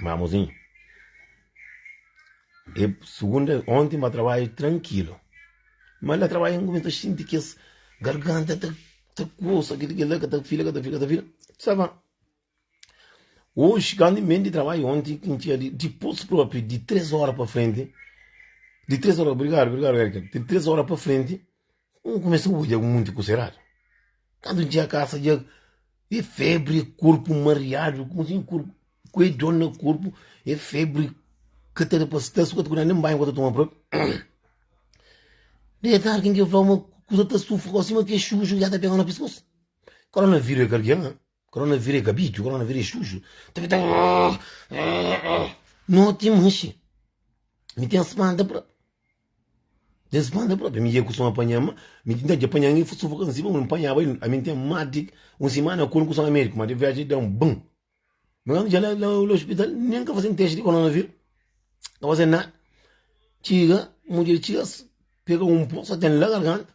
Mamuzinho E segunda onti ma trabalho tranquilo ma la trabalho em começa sentir que esse garganta tá tá coça aquele que lá que tá fila que tá fila que tá fila sabe hoje quando vem de trabalho ontem que tinha de depois próprio de três horas para frente de três horas obrigado obrigado de três horas para frente Un kumesa odja ku monti kusa eradu. Kantu N txiga kasa dja e febri, e korpu mariadu, e kusa e korpu, ku e dor na korpu, e febri, ka ta da pa sta, su ka ta kuda, nen banhu ka ta toma propi. Di e tardi ken ke flau ma kusa ta stufa gosi, ma ke xuxu dja ta pega na piskos. Koronavírus e kardia-m. Coronavírus é kabitu, coronavírus é xuxu Noti é manxi Mi ten spanta pra Ten spanta pra Mi ia kusuma panha ma Mi tinta dja panha angi sufoka na sima N panhaba el Ami N ten más di un simana ku el N kusama médiku ma de viaji da un ban Mi kantu dja la la la ospital Nen ka faze-m testi di coronavírus Ka faze-m nada Txiga mudjer txiga Pega un pó sa ten la garganta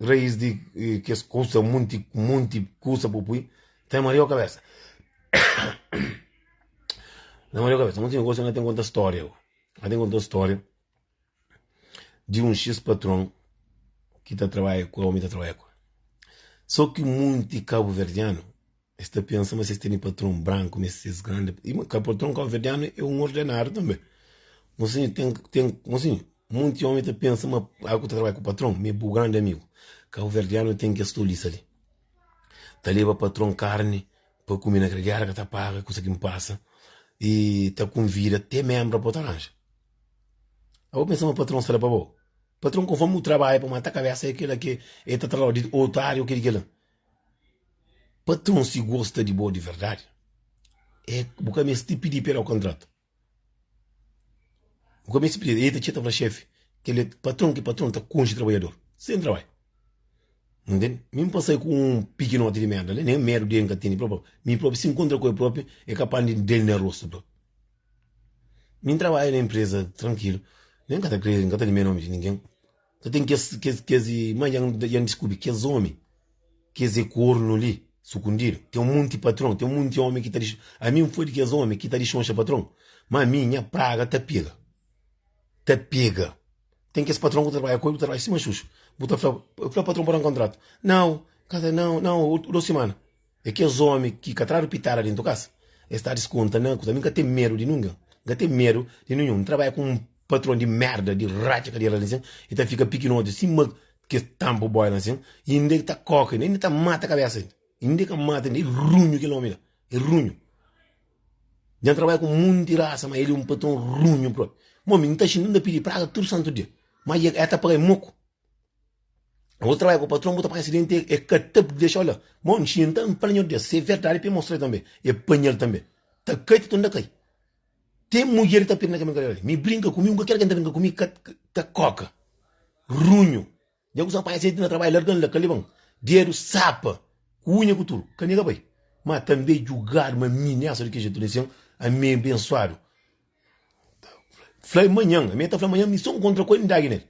raiz di kes kusa, munti, munti kusa bu pui, ta maria o kabesa. Na maria o kabesa, munti negócio na tem conta história, na tem conta história de um X patrão que tá trabalha com, homem tá trabalha com. Só que muito cabo-verdiano Es ta pensa ma si es tene patron branku, meste ser es grandi. E ma ka patron kabuverdianu é un ordenadu tanbe. Mon sinhor, ten, ten, mon sinhor, monti omi ta pensa ma al ku ta trabadja ku patron, ma é bu grandi amigu. Kabuverdianu ten kes tolisa li. Ta leba patron karni pa kume na gradiada, ka ta paga, kusa ki N pasa, i ta konvida te menbra pa bu ta ranja. Abo pensa ma patron sta la pa bo? Patron, konformi bu trabadja pa mata kabesa, é kila ki el ta tra-l, odi, ô tardi, ô ki di kila. Patrun si gosta di bo di verdadi eh bu ka meste pidi pa el kontratu, bu ka meste pidi el ta txeta fla xefi kel patrun ki patrun ta konxe trabadjadur sen trabai bu ntende, mi n pasal ku un pikinoti di merda li nen medu di el n ka tene propi mi propi si n kontra ku el propi el kapas di da-l na rostu propi mi n trabadja na enpresa trankilu mi n ka ta krê n ka ta limia nomi di ningen. Ka ten kes, kes, kes i. Má dja N, dja N diskubri, kes ómi, kes é kornu li, sukundidu. Ten un monti patron, ten un monti ómi ki ta dixon. Ami N foi di kes ómi ki ta dixonxa patron. Má mi, nha praga ta pega. Ta pega. Ten kes patron ki bu ta trabadja ku el, bu ta trabadja sima xuxu. Bu ta fla, Fla patron pa da-m kontratu. Nau, ka ta, nau, nau, otu, dôs simana. E kes omi ki ka tradu pitada dentu kas, e sta diskonta na kusa. Mi nka ten medu di nungen, nka ten medu di ninhun. N trabadja ku un patron di merda, di ratxa kadeira la nsin, i ta fika pikinoti sima kes tampu boi la nsin, i inda el ta koka inda, inda ta mata kabesa inda, inda ka mata inda, e runhu kel omi la, e runhu. Dja N trabadja ku monti rasa, ma el e un patron runhu propi. Bon, mi nta xinti, nta pidi praga tudu santu dia, ma e ka ta paga-m moku. Vou trabalhar com o patrão, vou estar presidente, é, é catap de deixar, olha, bom, tinha então, panha de se é verdade, para mostrar também, é panha também, tá cai, tá tunda cai. Tem mulher tá pedindo que olha, me brinca comigo, nunca quero que brinca comigo, tá coca, runho, já que só para gente na trabalho, largando lá, calibão, dedo, sapa, cunha, com tudo, caminha, pai, mas também julgar, mas minha, só de que jeito, a mim abençoado. Fla-l manhan, ami ta fla manhan mi son kontra ku el, mi dagi nel.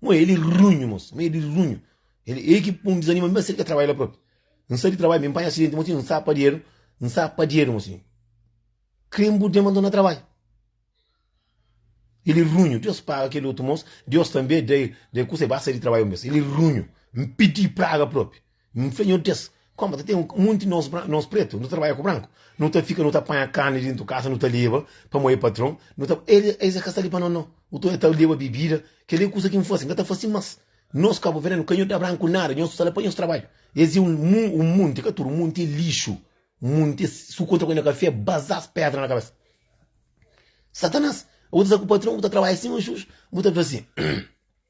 Mon, el e runhu mosi, mon el e runhu. El e ki pun dizanima mi, ma si el ka trabadja la propi. N sai di trabadju mi, n panha asidenti mosi, n sta padieru, n sta padieru mosi. Kre-m bu dema nton na trabadju. El e runhu, Deus paga kel otu mos, Deus tanbe da-i, da-i kusa, e ba sai di trabadju un bes. El e runhu, n pidi praga propi. N fla nhos, Djês, kóma ta ten munti nos bran, nos pretu, nu ta trabadja ku branku. Nu ta fika, nu ta panha karni dentu kasa, nu ta leba pamodi patron, nu ta. El, es é ka sta li pa nos, nau. U ta oja, ta leba bibida. Kel-li é kusa ki N fase, N ka ta fase más. Nos kabuverdianu ka nhos da branku nada, nhos fla pa nhos trabadja. Es é un mu, un munti, ka tudu munti é lixu. Munti é su kontra ku el, na ka fia bazás pédra na kabesa. Satanás, bu ta sta ku patron, bu ta trabadja sima xuxu, bu ta fla sin,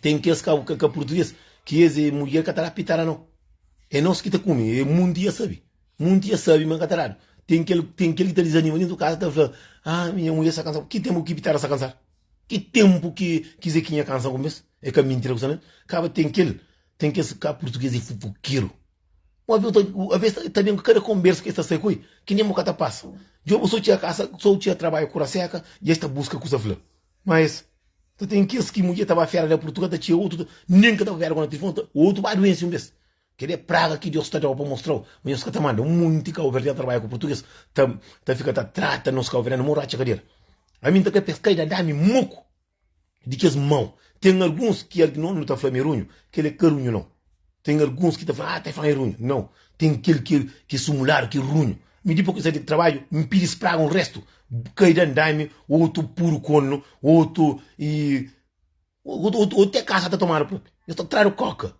Tem kes ka ka ka português ki ês ê mulher ka ta dá pitada não. É nôs ki ta come, ê munde ya sabe. Munde ya sabe ma ka ta dado. Tem kel tem kel ki ta desanima dentro casa ta fla, ah minha mulher sa cansa, ki tempo ki pitada sa cansar? Ki tempo ki ki zequinha cansa ku bes? É ka mintira ku sa nel. Kaba tem kel tem kes ka português ê fufuquero. Bo avê ta avê ta ta bem ku kada conbersa ki ês ta sai ku ê ki nem bo ka ta passa. Djobe so tchê a casa so tchê a trabalho kura seca dja ês ta busca ku sa fla. Ma es ta ten kes ki mudjer ta ba fera na Purtugal, ta txia otu nen ka ta ba fera ku na tilifoni, ta otu ba duensi un bes. Kel-li é praga ki Deus ta da-u pa mostra-u ma nhos ka ta manda. Un monti kauverdianu ta trabadja ku purtuges, ta ta fika ta trata nos kauverdianu mo rotxa kadera. Ami N ta kre pa es kai da da-mi moku di kes mau. Ten alguns ki algi nau nu ta fla mi é runhu, kel-li é ka runhu nau. Ten alguns ki ta fla, ah, Taifan é runhu. Nau, ten kel ki é sumuladu ki é runhu. Mi dipô ki N sai di trabadju, N pidi es praga un restu, kai da andami, otu puru konu, otu i otu te kasa ta tomadu propi. Es ta tradu kóka,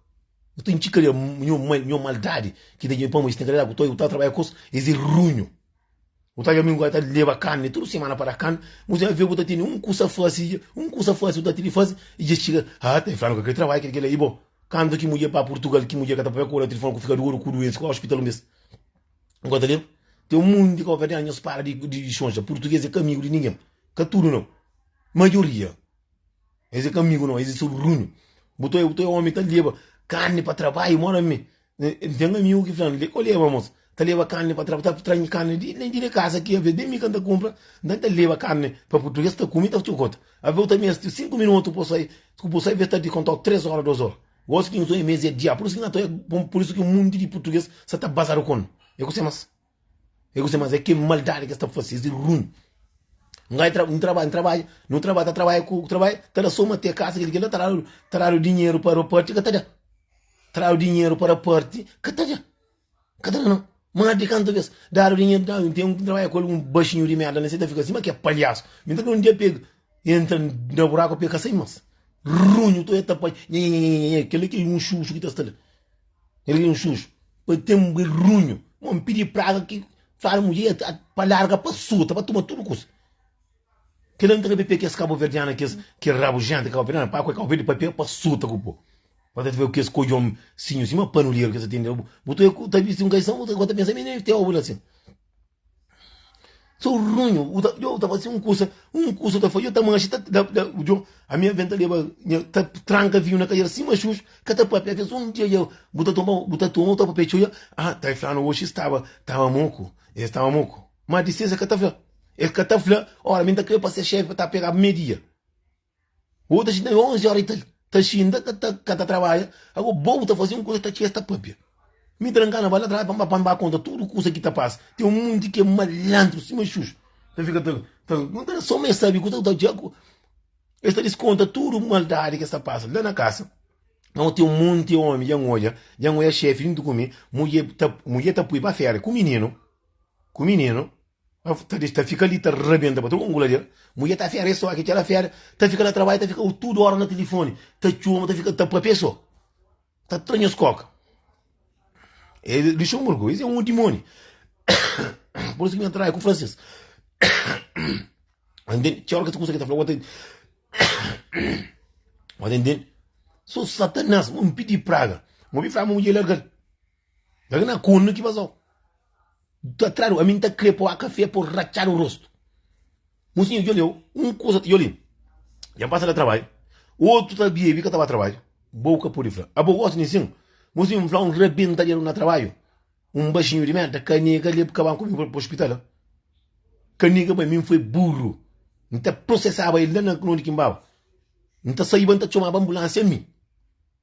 es ta intxi kariâ. Nho mal, nho maldadi ki ta dja ben pamodi es ten kariâ ku tau, eu ta trabadja ku es, es é runhu. Bu ta dja mi ngói ta leba kande tudu simana pa da kande bu dja ve bu ta tene un kusa fase dja un kusa fase bu ta tene fase i dja txiga haa ta infla no ka kre trabadja kre kela i bo kande ki mudjer ba purtugal ki mudjer ka ta papia ku bo na telefon ku fika dodu ku duense ku ospital un bes bo ta leba ten un monti di kova nhos para di di sonja purtuges e ka amigu di ningen ka tudu no majoria es e ka amigu no es e so runhu bu ta omi ta leba kande pa trabadju mora mi N ten amigu ki fla-m, Li ka leba mos ta leba karni pa traba, ta tra-m karni di la i di kasa. Ki aves, ben mi ka N ta kunpra, nta N ta leba karni pa purtuges ta kume i ta txokota. Aves, ta meste txeu sinku minutu pa sai, ku bo sai aves ta di kontau tres ora, dos ora. Gosi ki N sonha mes é dia, pur isu ki N ta oi, pur isu ki un munti di purtuges sa ta bazadu ku-n. E kuse mas? É gosi, mas é kel maldadi ki es ta fase, es é ruin. Un gajo tra, un trabadja, un trabadja, nu trabadja, ta trabadja ku trabadja, ta da soma te kasa, kel-li, kel-la ta dadu, ta dadu dinheru pa raparti, ka ta da. Ta dadu dinheru pa raparti, ka ta da. Ka ta da nau. Más di kantu bes, dadu dinheru, dadu. Ten un ki trabadja ku algun baxinhu di merda, alesi, el ta fika sima ke palhasu. Mi ta kre un dia pega, entra na buraku pa el ka sai más. Ruin, nhu ta oja tapaj, nhanhanhanhanhanhan, kel-li ki é un xuxu ki ta sta la. Era di un xuxu, pa ten bui runhu. Mon pidi praga ki fala mudje ya ta pa larga pa sul, ta ba tuma tudu kusa. Kel la ntra pepia kes kabuverdiana kes kel rabujenta kabuverdiana pa kue kauberde papia pa sul ta ku bo. Pa ta veo kes kojon sinhu sima panuleru kes ta tende bu ta visti un kaisan bu ta pensa mi nem teo bu na sin. Sou runho, u ta, yo ta fasi un kusa, un kusa ta fasi, yo ta manxi, ta, da, da, yo, a minha venta leba, nha, ta tranka vinho na cadeira sima xux, ka ta papia kes un dia ya, bu ta toma, bu ta toma, bu ta papia txeu ya, ah, ta e flanu oxi staba, tava moku, e staba moku, ma di ses e ka ta fla, e ka ta fla, ora mi n ta kre pa ser xef, ta pegaba me dia. Bo ta xinta-m 11 óra i ta ta xinta ka ta ka ta trabadja. Ago bo bu ta faze un kuza ta txia es ta pâpia. Mi tra-m ka na bal na trabadja pa n ba pa n ba konta tudu kuza ki ta pasa. Ten un monti ki é malandru sima xuxu. Ta fika ta ta nu ta sô ma es sabe kuza ki ta odja ku es ta diskonta tudu maldadi ki es ta pasa la na kasa. Ago ten un monti ómi dja N odja, dja N odja xéfi djuntu ku mi, mudje ta mudje ta poi pa féria ku mininu, ku mininu. ta dexa ta fika li ta rabenta pa tudu ladu el mudjer ta fera es so ki txera fera ta fika na trabadju ta fika tudu ora na tilifoni ta txoma ta fika ta papia so ta tra nhos koka e luxemburgo es e un dimoni por isu mi atrai ku franses txeu ora kes kusa ki ta fla bo ta bo ta ntende so satanas un pidi praga bo obi fla ma mudjer largal Daga na kunu ki bazau. Ta tradu, ami nta kre poa kafé por ratxadu rostu. Musinha djoli eu, un kusa ta djoli, dja pasa na trabadju, otu ta bibi ka ta ba trabadju, bou ka pudi fla. Abo gosi ni sin? Musinha nfla un rabenta dedu na trabadju, un baxinhu di merda ka nega leb kaban ku mi pa ospital. Ka nega bai, mi nfoi burru, nta prosesaba el la na undi ki nbaba. Nta saiba nta txomaba ambulansia ami.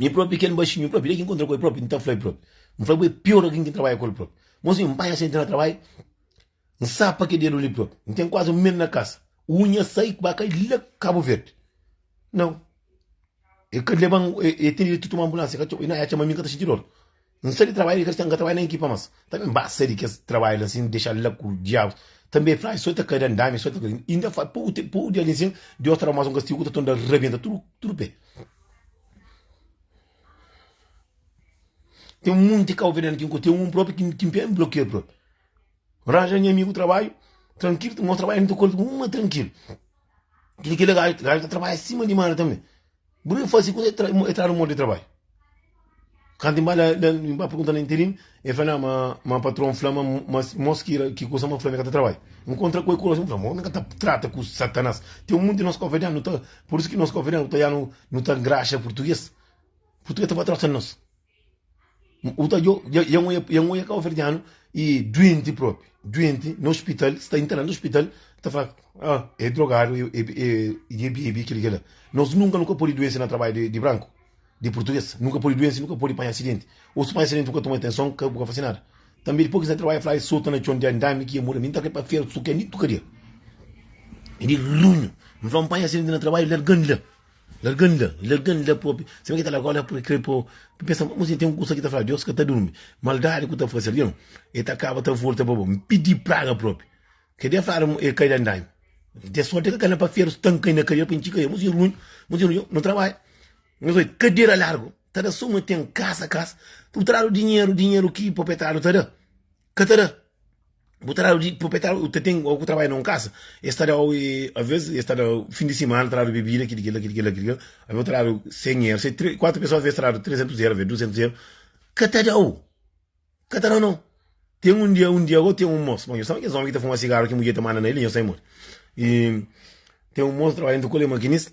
Mi propi ken baxinhu, mi propi, dja ki nkontra ku el propi, nta fla-l propi. N fla-bu e pior algin ki N trabadja ku el propi. Mosi, N panha senti na trabadju, N sapa ke dedu li propi. N ten kuazi un mes na kasa, unha sai ku ba kai la Kabu Verdi. Nau, e ka leba-m, e ten direitu di toma anbulansia, ka txoma, i na ya txoma mi, N ka ta sinti dor. N sa di trabadja di kristian, N ka trabadja na ekipa mas. Tanbe N ba sa di kes trabadja la sin, dexa la ku diabus. Tanbe fla, I so ta kada ndami, i so ta kada ndami. Inda fai poku tenpu, poku dia nsin, Deus ta da mas un kastigu ku ta tunda rabienta tudu, tudu pe. Ten munti kau venenu ki N konxi, ten un propi ki N pensa N blokia-l propi. N ranja nha amigu trabadju, trankilu, nos trabadja nu ta kolha tudu, un ma trankilu. Kila gaja ta trabadja sima di mara tanbe. Bu debe fase kuzê e tradu modi di trabadju. Kantu N ba la, N ba pergunta na interim, e fla ma ma patron fla ma ma mos ki kusa ma fla mi ka ta trabadja. N kontra ku e kuroxi, N fla, Mô, nu ka ta trata ku Satanás. Ten un monti di nos kofedan, nu ta, pur isu ki nos kofedan ku ta yanu, nu ta ngraxa purtuges. Purtuges ta ba trota nos. N ta djo, dja nha nhoia, nha nhoia kaba ferdianu e duenti propi, duenti na ospital, sta internadu na ospital, n ta fla, ah e drogadu, e dja e bebi kel i kel la. Nos nunka nu ka podi duense na trabadju di di branku, di purtuges, nu ka podi duense, nu ka podi panha asidenti, o si panha asidenti bu ka toma atenson, bu ka fase nada. Tanbe dipos ki N sta trabadja, fla, e sota na txon, diandami ki e muda, mi N ta kre pa fera sukia, ni tukadia, e di runhu, mi fla, N panha asidenti na trabadju, larga-m di la. Larga-m la, larga-m la propi. Sima ki ta larga-u la propi, krê po. N pensa, ma si ten un kusa ki ta fla, Deus ka ta durmi. Maldadi ku ta fase algen, el ta kaba ta volta pa bo. N pidi praga propi. Ke dia fla mo el kai la nda-m. Dia sorti ka kal-la pa feru, stanka-i na kadera pa intxi ka el. Mo si ruin, mo si ruin. Nu trabadja, nu sai, kadera largu ta da. Suma ten kasa, kasa. Tutradu dinheru, dinheru ki proprietariu ta da. ka ta da. Bu ta dadu di proprietário, o ta tem o ku trabadja na um casa, es ta dau e a vez es ta dau fim de semana ta dadu bebida kidi kila kidi kila kidi kila, a vez o ta dadu 100 eur, se tre kuatro pessoa a vez ta dadu 300 eur a vez 200 eur, ka ta dau, ka ta dau nau, tem um dia um dia agora tem um moço, bom eu sabe aqueles homens que ta fuma cigarro que mudjer ta manda na ele, eu sai modi, e tem um moço ta trabadja na um colher maquinista,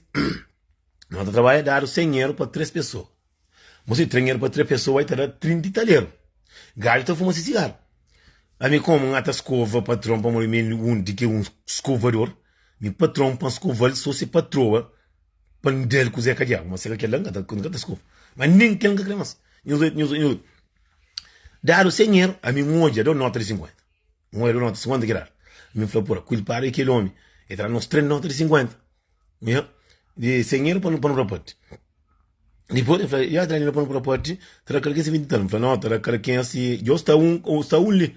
nau ta trabadja dadu 100 eur pa tres pessoa. Mo si trinheru pa tra pesoa e ta da trinti taleru. Gadju ta fuma si sigaru. Ami komu N ata skova patron pamodi mi N undi ki un skovador, mi patron pa N skoval so si patroa pa N dal kuze ka diabu. Ma si ka kel la N ka ta skova. Ma nen kel N ka kre mas. Nhos oiu, nhos oiu. Dadu sen er, ami N odja, da-u nota di sinkuenta. Un el nota 50 ki dal mi fla pura ku el para e kel omi e tra nos tres nota di 50 nha di sen euro pa nu pa nu rapati dipos el fla ya tra dinheiro pa nu rapati tra kal ki si vinti tal mi fla no tra kal ki nha si djo sta un o sta un li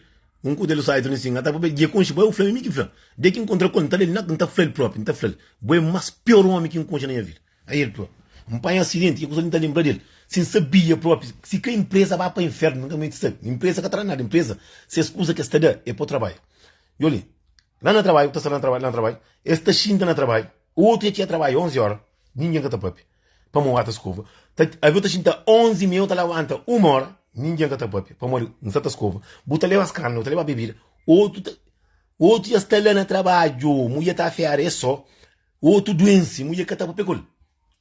un ku del sai tuni sin ata papia dje konxe bai u fla mi mi ki fla de ki nkontra ku el nta lel na nta fla el propi nta fla bo e mas pior omi ki nkonxe na nha vida Aí el fla, N panha asidenti, ki kusa li N ta lenbra di el? Si N sabia própi si ka inpresa ba pa inférnu, N ka menti sabe. Inpresa ka ta da nada. Inpresa, si es kuza ki es ta da é pa bu trabadja. Djo li, la na trabadju, bu ta sta la na trabadju, la na trabadju, es ta xinta na trabadju, otu dja txia trabadja onzi óra, ningen ka ta pâpia, pamodi un rata skova. Ta, avi bu ta xinta onzi mi, eu ta labanta uma óra, ningen ka ta pâpia, pamodi N sta ta skova. Bu ta leba skanda, bu ta leba bebida, otu ta, otu dja sta la na trabadju, mu dja ta afera es sô. Otu duensi mudjer ka ta papia kol.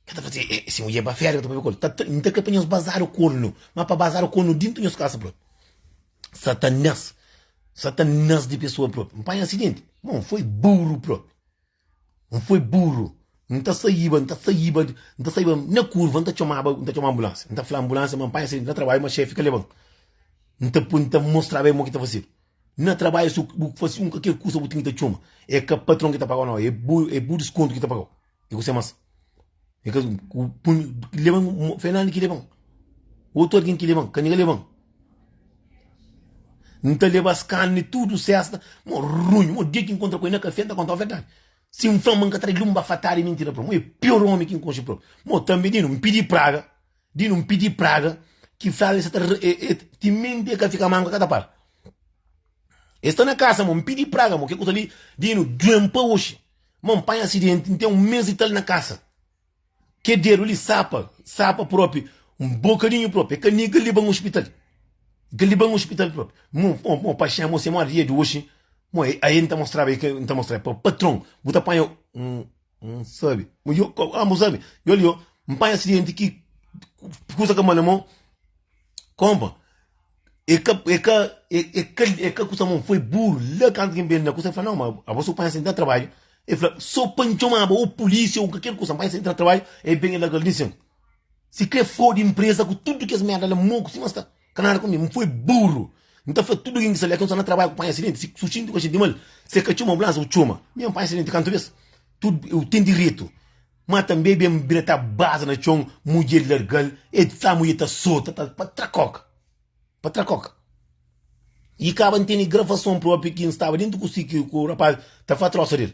Ka ta fazia eh, si mudjer ba féria ka ta papia kol. Ta ta nta ka pa nhos bazadu kol nu, ma pa bazadu kol nu dintu nhos kasa propi. Satanas, satanas di pesoa propi. N panha asidenti, ma N foi buru propi. N foi buru. N ta saiba, N ta saiba, N ta saiba na kurva N ta txomaba, N ta txoma anbulansia. N ta fla anbulansia ma N panha asidenti na trabadju ma xefi ka leban. N ta pui, N ta mostraba el mo ki ta fasidu. Na trabadju su bu fasi un kaker kusa bu tingi ta txoma e ka patron ki ta pagau nau e bu e bu diskontu ki ta pagau e ku se mas e ka ku pun leban fernandi ki leban otu algin ki leban ka nega leban N ta leba es kani tudu sesta mo runhu mo dia ki N kontra ku el na kafé N ta kontau verdadi si N fla ma N ka trai lun ba fatadi mintira pa el mo e pior omi ki N konxi propi mo tanbe di no N pidi praga. Di nun pidi praga ki fla el sa ta ti minti e ka fika manku e ka ta para. E sta na kasa ma mpidi praga mo ke kusa li di nu duen pa oxi ma npanha asidenti ntem un mes di tal na kasa ke dedu li sapa sapa propi nbokadinhu propi e ka nika liba un ospital e ka liba un ospital propi mo mo paxen mo se mo adia di oxi mo ae nta mostraba ke nta mostraba pa patron bu ta panha un. N sabe. Mas yo, ah, mas sabe, yo ali, ó, N panha acidente ki kusa ka mane mo, kompa, e ka, e ka, e, e ka, e ka kusa mo, foi buru, la kantu ki N ben na kusa, e fla, nau, ma abo so panha acidente na trabadju, e fla, so pa N txomaba o pulisia o kalker kusa, N panha acidente na trabadju, e ben e larga li sen, si kre fodi mpresa ku tudu kes merda la, moku sima sta. Ka nada ku mi, N foi buru. N ta fla tudu algen ki sta li, Alkens sta na trabadju ku panha asidenti, si bu xinti ku bu xinti mal, si el ka txoma anbulansa, bu txoma. Mi N panha asidenti kantu bes? Tudu eu ten diretu. Ma tanbe ben N bira ta baza na txon, mudje el larga-l, e sa mudje ta sota ta patrakoka, patrakoka. I kaba N tene gravason propi ki N staba dentu ku si ku rapaz ta fla trosa del.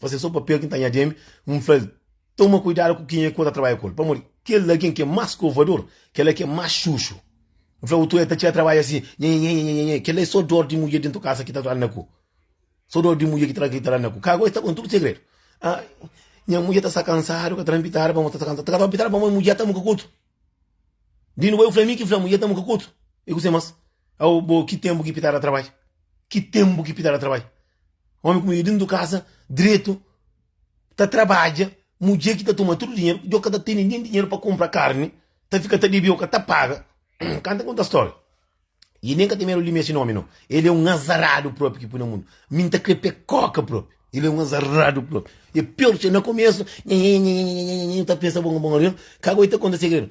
Fase é so papel ki ta nha demi N fla el, toma kuidadu ku kenha ki bo ta trabadja ku el pamodi kel algen ki é más skovadur, kel-la ki é más xuxu. N fla otu, el ta txiga trabadja si, nhenhenhenhenhenhen, kel-la é so dor di mudjer dentu kasa ki ta anda ku, so dor di mudjer ki ta ki ta anda ku, ka agora e sta konta tudu segredu, ah, nha mudjer ta sta kansadu, ka ta na pitadu pamodi ta sta kansadu, ta ka ta pitadu pamodi mudjer ta muka ku otu, di nuba eu fla, é mi ki fla, mudjer ta muka ku otu, i kuzê más, aô, bo, ki tenpu ki pitadu ta trabadja, ki tenpu ki pitadu ta trabadja. Omi ku mudjer dentu kasa dretu ta trabadja, mudjer ki ta tuma tudu dinheru, djo ka ta tene nen dinheru pa kunpra karni, ta fika ta debeu ka ta paga. Kan ta konta storia. I nen ka ten medu di meste nomi no. El e un azaradu propi ki pui na mundu. Mi nta kre pe koka propi. El e un azaradu propi. E pior txeu. Na komesu, nhanhanhanhanhanhanhanhanhan, ta pensa bon bon arion. Ka goi ta konta segredu.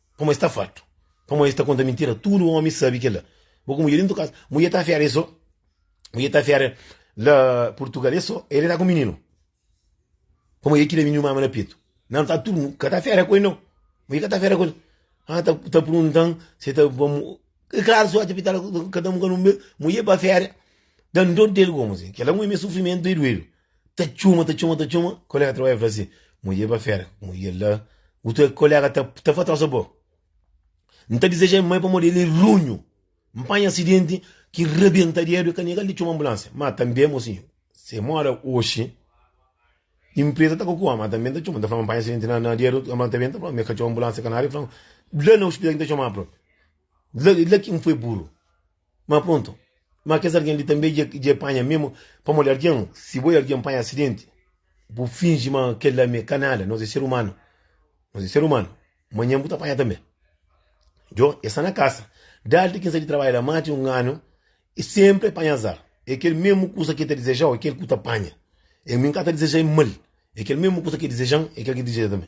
Pamodi es ta fartu. Pamodi es ta konta mintira. Tudu omi sabe kel-la. Bo ku mudjer dintu kasa. Mudjer ta afera el so. Mudjer ta afera la Purtugal el so. El ta ku mininu. Pamodi el ki da mininu mama na petu. Nan ta tudu. Ka ta afera ku el nau. Mudjer ka ta afera ku el. Ha ta purgunta-m si el ta ba mo. E klaru si otxa pitala ka ta mo ka nu. Mudjer pa afera. Dan dor di el gomo si. Kel-la ngui mi sufrimentu e duedu. Ta txuma, ta txuma, ta txuma, kolega ta trabalha fla si, Modi eba fera, modi el la, utu kolega ta ta fla trosa bo, N ta dizeja el mai pamodi el e runhu, N panha asidenti ki rabenta dedu e ka negal di txuma anbulansia. Ma tanbe mo sinhu, se mora oxi, inpresa ta kokua, ma tanbe N ta txuma, N ta fla ma N panha asidenti na na dedu, ma tanbe N ta fla ma e ka txuma anbulansia ka nada, e fla ma la na ospital ki N ta txuma propi, la la ki N foi buru. Ma pronto, ma kes algen li tanbe dja dja e panha mesmo? Pamodi algen, si bo e algen panha acidenti, bu fingi ma kel la me ka nada, nos e ser umano, nos e ser umano, manhan bu ta panha tanbe. Djo, e sta na kasa, daldi ki N sai di trabadja la mati un anu, e senpri e panha azar, e kel mesmo kusa ki e ta dizejau, e kel ku ta panha, e mi N ka ta dizejai mal, e kel mesmo kusa ki e dizejan, e kel ki dizeja tanbe.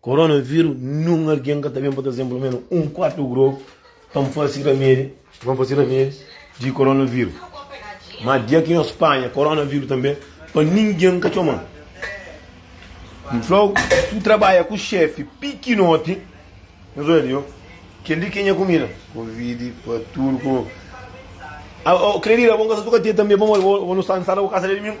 Korona viru nun algen ka ta ben pa ta zemplo menu un kuatu grogu pa n fasi ramedi, pa n fasi ramedi di korona viru. Ma dia ki nhos panha korona viru tanbe pa ningen ka txoman. N flau su trabadja ku xefi pikinoti, nhos oja li o, kel li ke nha kumida. Kovidi pa tudu ku. Kel li la bo n kasa su ka tia tanbe, bo bo nu sta n sta la bo kasa dia dumingu.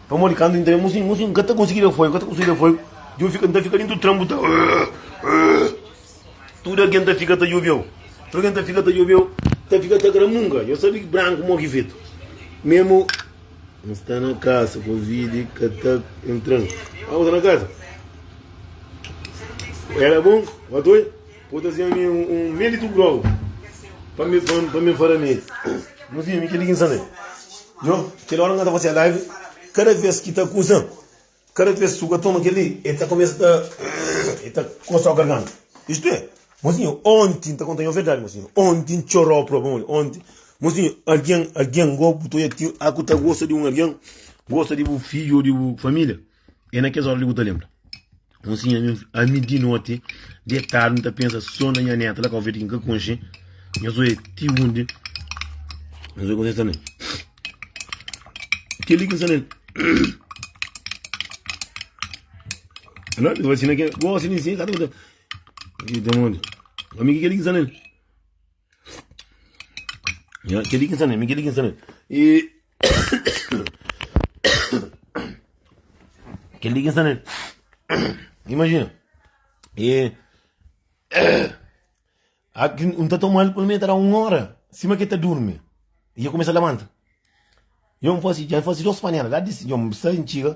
Pamodi kantu N ta ben, Muzinhu, muzinhu, N ka ta konsigi da foigu, ka ta konsigi da foigu. Djon fika, N ta fika dentu tranbu ta Tudu algen ta fika ta djobe eu, tudu algen ta fika ta djobe eu, ta fika ta gramunga. Eu sabe branku mo ki fetu. Memu N sta na kasa, Covid ka ta entran. N sta na kasa. Era bon, watoia. Bo ta zia mi un medi tu grogu pa mi pa mi fara medi. Nu fia mi keli kin same. Jo keli ora nga ta fasia live kada vez ki ta kusa kada vez su ka toma keli e ta komesa ta e ta kosa o garganta. Isto e mosinho ontin ta konta yo verdade mosinho ontin chorou proba moli ontin mosinho algin algin go bu to ya tin aku ta gosta di un algin gosta di bu fiju o di bu familia. É na kes óra li bu ta lenbra. Un sinha mi, ami di noti, detadu, mi ta pensa sô na nha néta la, Calvete, ki n ka konxe. Nhos oi ti undi nhos oi kuzê sta na el. Kel-li ki sta na el. Alô, mi fasina kel. Gosi di nsin, ka ta kuzê. Ki ten undi. Ami, ki kel-li ki sta na el. Ya, kel-li ki N sta na mi, kel-li ki N sta na mi. E. Kel-li ki N sta na mi. Imajina. E. Aki N ta toma-l pa mi ta da un óra, sima ki el ta durmi. I el kumesa labanta. Djon N fase, dja N fase dôs panela, la di. Djon N sta, N txiga,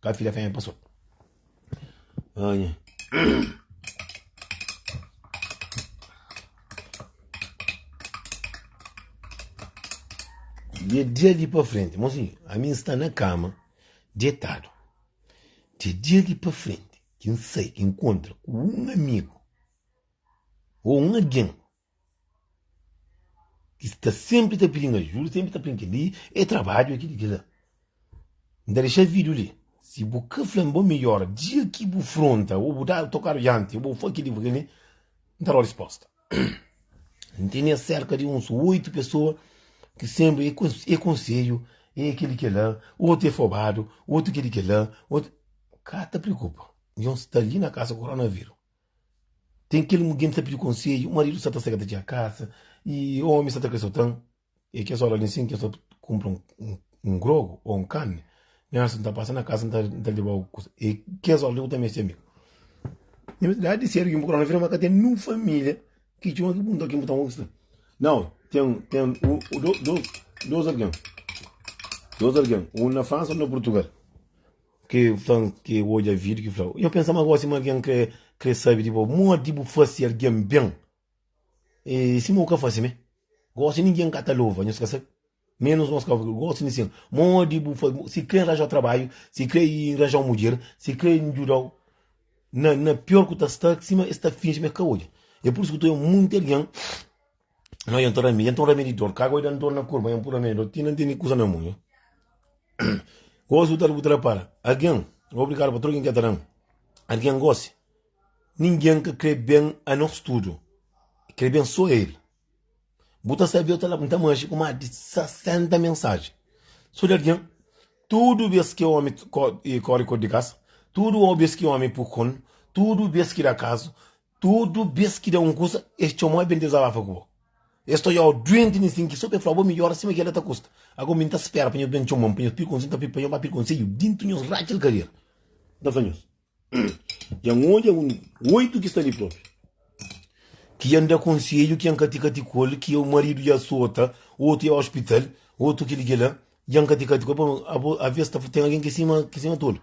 Ka fidja fenha pa sot. Ah, nha. De dia ali pa frente, mozinho, a mim está na cama, deitado. De dia ali pa frente, quem sai, quem encontra com um amigo ou um alguém Ki sta senpri ta pidi-m ajuda, senpri ta fla-m kel-li é trabadju, é kel-li, é kel-la. N ta dexa vídiu li. Si bu ka fla-m bo midjór dia ki bu fronta ô bu da tokadu dianti, ô bu fla kel-li, bu fla kel-li, N ta da-u respósta. N tene sérka di uns oitu pesoa ki senpri é konsedju, é kel-li, é kel-la, otu é fobadu, otu é kel-li, é kel-la, otu. Ka ta preokupa, djon sta li na kasa ku koronavíru. Ten kel mugen ki sa pidi konsedju, maridu sa ta sega ta txia kasa y omi sa ta kre sotan e kes ora li nsin ki nsa kunpra un grogu o un karni nhas nta pasa na kasa nta nta leba algu kusa e kes ora li ku ta meste amigu. Na verdadi di sedu ki nbu krê na vida ma ka ten nen un familia ki txoma ki punta kin bu ta konquista nau ten ten un u dos dos algen dos algen un na fransa un na purtugal. Ke flan ke odja video ki fla. Nhos pensa ma gosi ma algen kre kre sabi di bo. Modi bu fasi algen ben e sima u ka fasi me. Gosi ningen ka ta lova nhos ka sabi. Menus nos ka gosi di sen. Modi bu fa si kre nranja trabadju, si kre nranja un mudjer, si kre ndjudau na na pior ku ta sta sima es ta finji ma e ka odja. E pur isu ku ta oja munti algen. Não adianta o Ramiro, então o Ramiro dor, cago e dá dor na curva, então o Ramiro dor, ti não tem coisa na mão. Gosto tal butra para, alguém, obrigado para todo quem quer dar, alguém gosta, ninguém que crê bem a nós tudo, crê bem só ele. Buta sabia, eu tava muito manche com mais de 60 mensagens. Só de alguém, tudo vez que o homem corre cor de casa, tudo vez que o homem por tudo vez que dá caso, Tudu bes ki da un kusa, es txoma-u i ben dizabafa ku bo. Es ta odja-u duenti na sinki so pa e fla-u bo midjora sima ki el da ta kusta. Ago mi N ta spera pa nhos ben txoma-m pa nhos pidi konsedju, N ta pidi pa nhos ba pidi konsedju dintu nhos ratxa el kadera. N ta fla nhos, dja N odja un oitu ki sta li propi, ki dja N da konsedju, ki dja N kati-kati ku el, ki o maridu dja sota, otu dja ospital, otu kili-kila, dja N kati-kati ku el. Pamodi abo, aves, ta ten algen ki sima, ki sima tolu.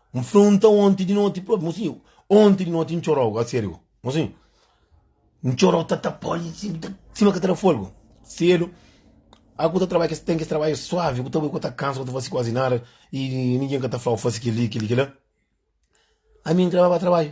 N fronta onti di noti propi, mo si onti di noti N txorau, a serio, mo si N txorau ta ta poli si ta sima ka ta da folgu, sedu a ku ta trabadja kes ten kes trabadju suavi ku ta bai ku ta kansa ku ta fasi kuazi nada i ningin ka ta flau fasi kili kili kila ami N trababa trabadju.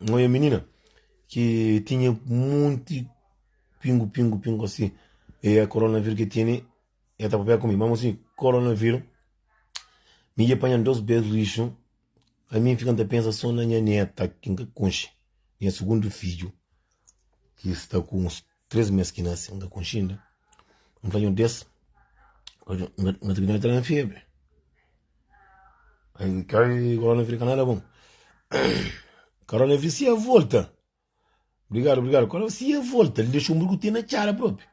Nho nha menina ki tinha monti pingu pingu pingu assim e a coronavírus que tinha ela tá papel comigo mesmo assim coronavírus me ia apanhar dois pés lixo a mim fica a pensar só na minha neta que nunca conche minha segundo filho que está com uns 3 mes ki nase, nga konxinda, n fla nhos des, nga ta bida na tera febre. Ai, kai korona fri ka nada bom. Korona fri sia volta. Obrigado, obrigado. Korona fri sia volta, li dexou murgu ti na cara propi.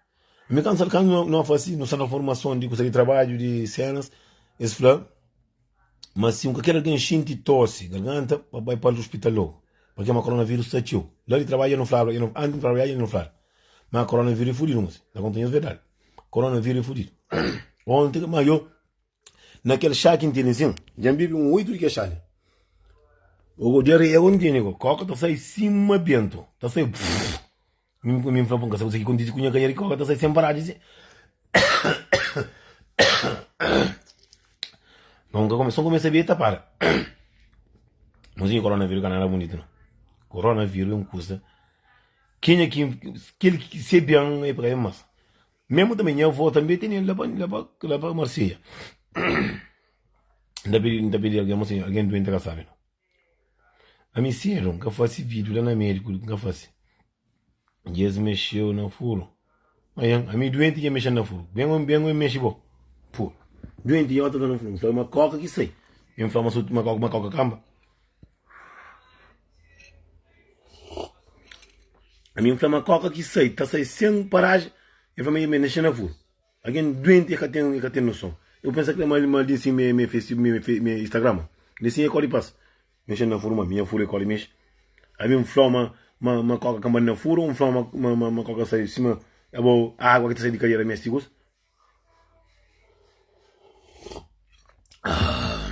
Mi kan sal kan no fasi, no sal na formason di kusa di trabadju, di senas, es fla, Mas si un ka ker algen xinti tosi, garganta, pa bai pal hospital logu, pa kema coronavírus ta txeu. La di trabadju el no flaba, el no, anti no trabadja el no flaba, ma coronavírus e fudidu mosi, ta konta nhos verdadi, coronavírus e fudidu. Onti ma yo na kel xá ki ntindi sin, dja nbibi un oitu di kel xá li, ogo dja riega un ntindi go, koka ta sai sima bentu, ta sai bfrrr. Mi fla bo, N ka sabe kuzê ki kontise ku nha kanha riba, ka ta sai sen paradu si. Nton N ka kome, sô N kumesa bia i ta para. Mozinho, koronavírus ka nada bunitu nau. Koronavírus é un kuza, kenha ki, kel ki se bian e paka ben mas. Memu tanbe nha avó tanbe tene el la pa Marselha. N ta pidi, N ta pidi algen, Monsenhor, algen duenti ka sabe nau. Ami sedu n ka fase vídiu la na médiku n ka fase y es mexeu na furu manhan ami duenti y e mexel na furu ben oi ben oi mexe bo furu duenti y ota ta na furu n fla ma koka ki sai ben fla ma so ma koka ma koka kanba ami n fla ma koka ki sai ta sai sen paraji e fla ma y e mexe na furu. Algen duenti e ka ten e ka ten noson. Eu pensa kle mal mal di assim me me face me me face me Instagrama di assim e koli pas mexen na furu ma minha furu e koli mexe abi um flau ma ma ma koka ka mba na furu um flau ma ma ma ma koka sai sima é bo água ki ta sai di cadeira meste ki coisa ah.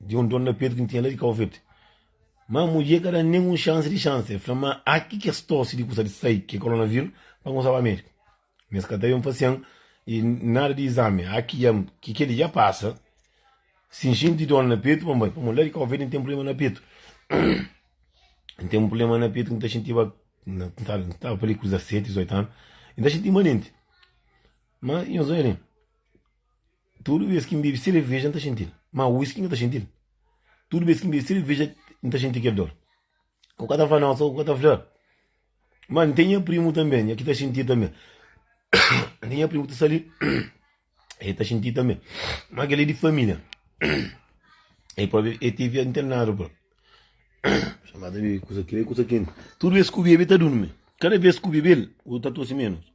di un dor na petu ki N tinha la di Kau Verdi. Má mudjer ka da-m nen un xansi di xansi. El fla-m ma aki ki es torse di kusa di sai, ki é koronaviru, pa N kumsa ba médiku. Má es ka ta ben pa sen i nada di izami. Aki dja-m ki kel-li dja pasa. Si N xinti dor na petu, pa N bai. Pamodi la di Kau Verdi N ten prubléma na petu. N ten un prubléma na petu ki N ta xintiba na N ta staba pa li ku 17, 18 anu. I N ta xinti-m manenti. Má nhos odja li. Tudu bês ki N bebe sereveja, N ta xinti-l. Má uíski N ka ta xinti-l. Tudu bês ki N bebe sereveja, N ta xinti kel dór. Ku ka ta fla nosa, ku ka ta fla. Má N ten nha primu tanbê, nha ki ta xinti tanbê. N ten nha primu ki ta sta li, el ta xinti tanbê. Má kel-li é di família. El própi el tevi internadu própi. Má ta bebe kusa, kel-li é kusa kenti. Tudu bês ki bu bebe, el ta durmi. Kada bês ki bu bebe-l, bu ta tosi ménus.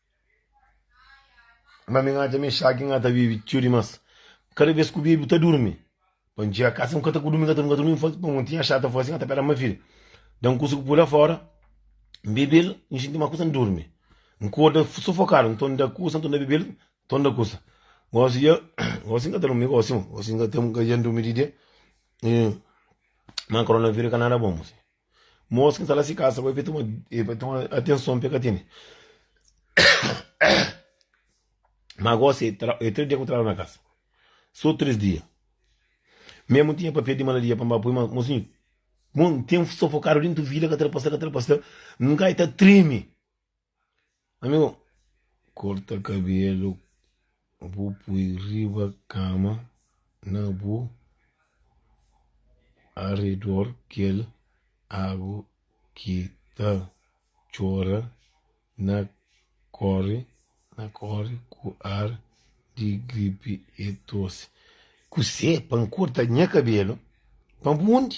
Má mi n'atxa Mexaki n'ka ta vive txeu dimás Kada bes ku bebi bu ta durmi Pa n'txega kasa n'ka ta ku durmi n'ka ta durmi n'fasi pa mon tinha xata fasi n'ka ta pela ma fil Dan kusa ku pula fora N'bebel n'xinti ma kusa n'durmi N'korda sufokadu n'ton da kusa n'ton da bebel n'ton da kusa Gosi dja gosi n'ka ta durmi gosi mo gosi n'ka ta n'ka dja n'durmi di dia Má koronavírus ka nada bon mo si. Mos ki ta la si kasa bai pa toma e pa toma atenson pe ka tene. Ma gosi e tra, e três dia ku traba na kasa. Só três dia. Mesmo tinha papel de malaria para me pôr, mas mocinho, bom, tem sufocado dentro vila, que trapassa, que trapassa, nunca está treme. Amigu, korta kabelu bu pui riba kama na bu aredor kel agu ki ta txora na kori ku ar di gripi e tosi. Kusé pa N korta nha kabelu pa bu undi?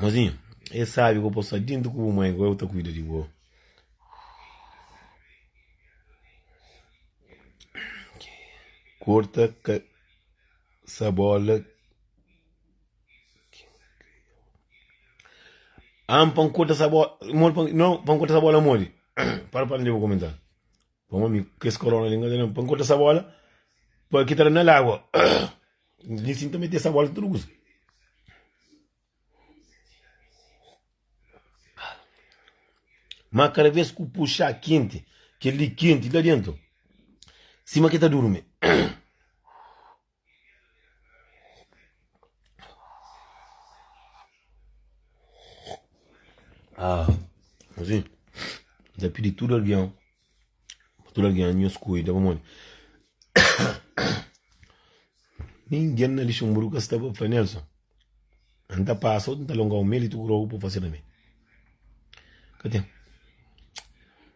Mozinhu, e sabe ku bo sta dintu ku bu mai, agora bu ta kuida di bo. Korta ka sa bola. Am pa N korta sa bola modi? Para, para, dja bu komenta. Bom ami kes corona li ngana pa nkorta sa bola pa kita la na lagua li sin ta mete sa bola tudu kusa ma kada vez ku puxa kenti kel li kenti la dentu sima ke ta durmi Asin, N ta pidi tudu algen pa tudu algen nhos kuida. Pamodi? Ningen na Lixinburgu ka sta pa fla Nelson, N ta pasa ôu, N ta longau mel i tudu rogu pa bu fase pa mi. Ka ten.